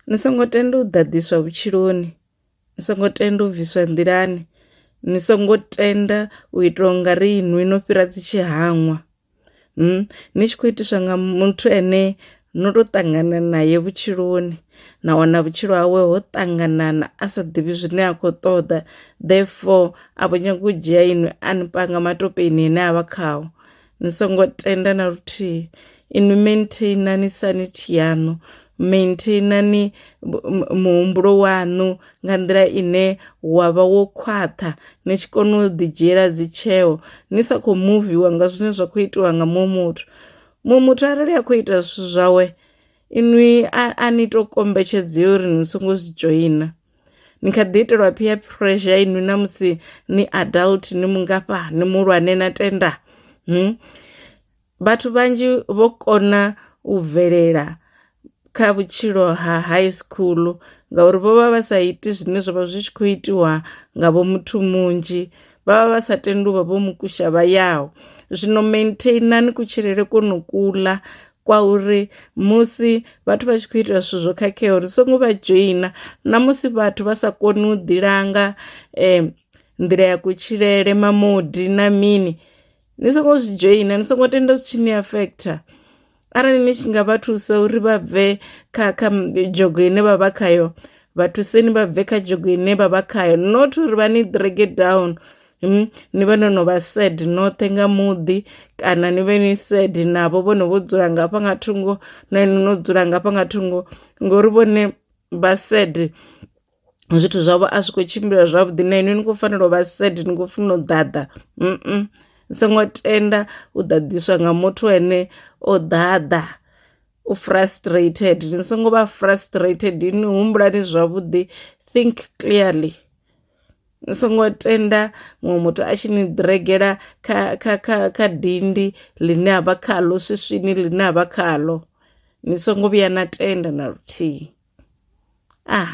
Ni songo tenda u ḓaḓiswa vhutshiloni ni songo tenda u bviswa nḓilani ni songo tenda u ita unga ri inwi no fhira dzi tshi hangwa ni tshi khou itiswa nga muthu ane no to ṱangana nae vhutshiloni na wana vhutshilo hawe ho ṱanganana a sa ḓivhi zwine a khou ṱoḓa therefore a vho nyaga u dzhia inwi a ni panga matopeni ane avha khawo. ni songo tenda na luthihi inwi maintainani sanity yaṋu maintainani muhumbulo waṋu nga nḓila ine wa vha wo khwaṱha ni tshi kona u ḓi dzhiela dzi tsheo ni sa khou muviwa nga zwine zwa khou itiwa nga muṅwe muthu muṅwe muthu arali a khou ita zwithu zwawe inwi a ni to kombetshedzea uri ni songo zwi dzhoina. ni kha ḓi itelwa peer pressure inwi na musi ni adult ni mungafha ni muhulwane na tenda hmm? vhathu vhanzhi vho kona u bvelela kha vhutshilo ha high school ngauri vho vha vha sa iti zwine zwavha zwi tshi khou itiwa nga vho muthu munzhi vha vha vha sa tendi uvha vho mukusha vha yaho zwino maintainani kutshilele kono kuḽa kwa uri musi vhathu vha tshi khou ita zwithu zwo khakheaho ri songo vha dzhoina na musi vhathu vha sa koni u ḓi langa um nḓila ya kutshilele mamodi na mini ni songo zwi dzhoina ni songo tenda zwi tshi ni afekhotha arali ni tshi nga vha thusa uri vha bve kha kha dzhogo ine vha vha khayo vhathuseni vha bve kha dzhogo ine vha vha khayo not uri vha ni drage down Hmm, ni vhe no no vha sad noṱhe nga muḓi kana ni vhe ni sad navho vhone vho dzula ngafha nga thungo na inwi no dzula ngafha nga thungo ngori vhone vha sad zwithu zwavho a zwi khou tshimbila zwavhuḓi na inwi ni khou fanela u vha sad ni khou funa u ḓaḓa mm songo tenda u ḓaḓiswa nga muthu ane o ḓaḓa u frustrated ni songo vha frustrated ni humbulani zwavhuḓi think clearly. ni songo tenda muṅwe muthu a tshi ni ḓiregela kha, kha, kha, kha dindi ḽine a vha khaḽo swiswini ḽine a vha khaḽo ni songo vhuya na tenda na luthihi ah